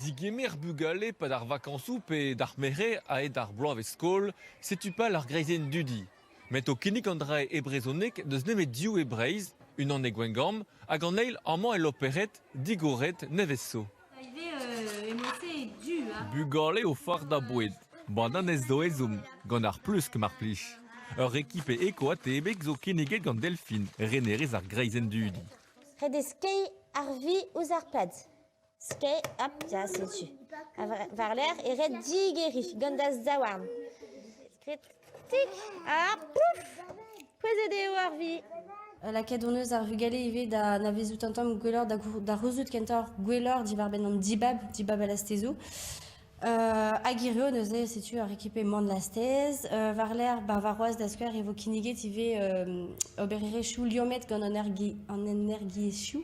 Degemer bugale 'pad ar vakañsoù pe d'ar mere a-hed ar bloavezh-skol, setu pal ar greizenn dudi. Met o kinnig an dra e brezhoneg n'eus nemet div e Breizh, unan e Gwengamp hag an eil amañ e Loperc'hed, digoret nevez zo. Bugale o fardañ boued, bananez zo ezhomm, gant ar plusk mar plij. Ur ekipe eko-atebek zo kinniget gant Delfin, renerez ar greizenn dudi. Ret eo skeiñ ar vi ouzh ar pad. Skeiñ, hop, ya, setu. Ha war-lerc'h e ret digeriñ gant da zaouarn. Skrid, tik, ha pouf! Pouezet eo ar vi. Lakaet hon eus ar vugale ivez da anavezout un tamm gwelloc'h, da rezout kentoc'h gwelloc'h diwar-benn an dibab, dibab al lastezoù. hag hirio neuze setu ar ekipe Manlastez. Euh, war-lerc'h ba warc'hoaz da skouer e vo kinniget ivez euh, obererezhioù liammet gant an ergi- an energiezhioù.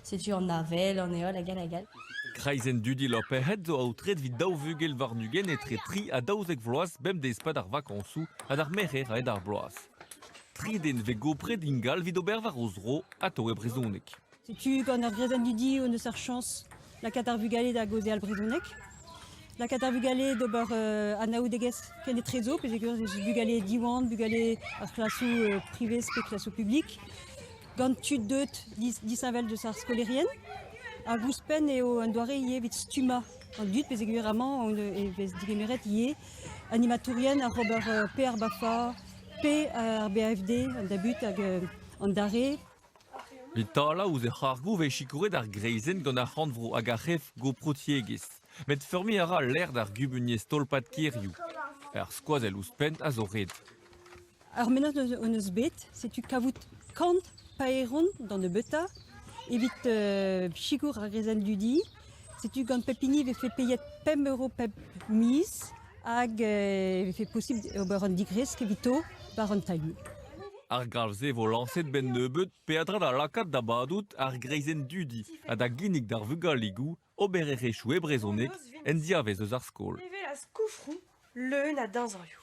Setu an avel, an heol hag all hag all. Kreizenn dudi Loperc'hed zo aotret evit daou vugel warn-ugent etre tri ha daouzek vloaz bemdez pad ar vakañsoù ha d'ar merc'her aet ar bloaz. Tri den vez gopret ingal evit ober war o zro atao e brezhoneg. Setu gant ur grezenn didioù en deus ar chañs lakaat ar vugale da gaozeal al brezhoneg. Lakaat ar vugale d'ober uh, anaoudegezh kenetrezo, pesegur bugale Diwan, bugale ar klasoù uh, privés pe klasoù publik, gant tud deut disheñvel deus ar skolaerien. Hag ouzhpenn eo un doare ivez evit stummañ an dud, pesegur amañ e vez degemeret ivez animatourien oc'h ober uh, P ar BAFA, P ar BAFD, an dabut hag an dare. E-tal ouzh he c'hargoù e vez sikouret ar greizenn gant ar c'horn-vro hag ar c'hef-goprotiegezh, met feurmiñ a ra lec'h d'ar gumuniezh tolpad kêrioù. Ar skoazell ouzhpenn a zo ret. Ar mennad hon eus bet, setu kavout kant paeron d'an nebeutañ evit sikour ar greizenn dudi. Setu gant pep hini e vefe payet pemp euro pep miz hag e vefe posibl ober un digresk evito war an tailhoù. Ar galv-se vo lañset benn nebeut peadra da lakaat da badout ar greizenn dudi ha da ginnig d'ar vugaligoù obererezhioù e brezhoneg en diavez eus ar skol. Evel a skoufroù leun a deñzorioù.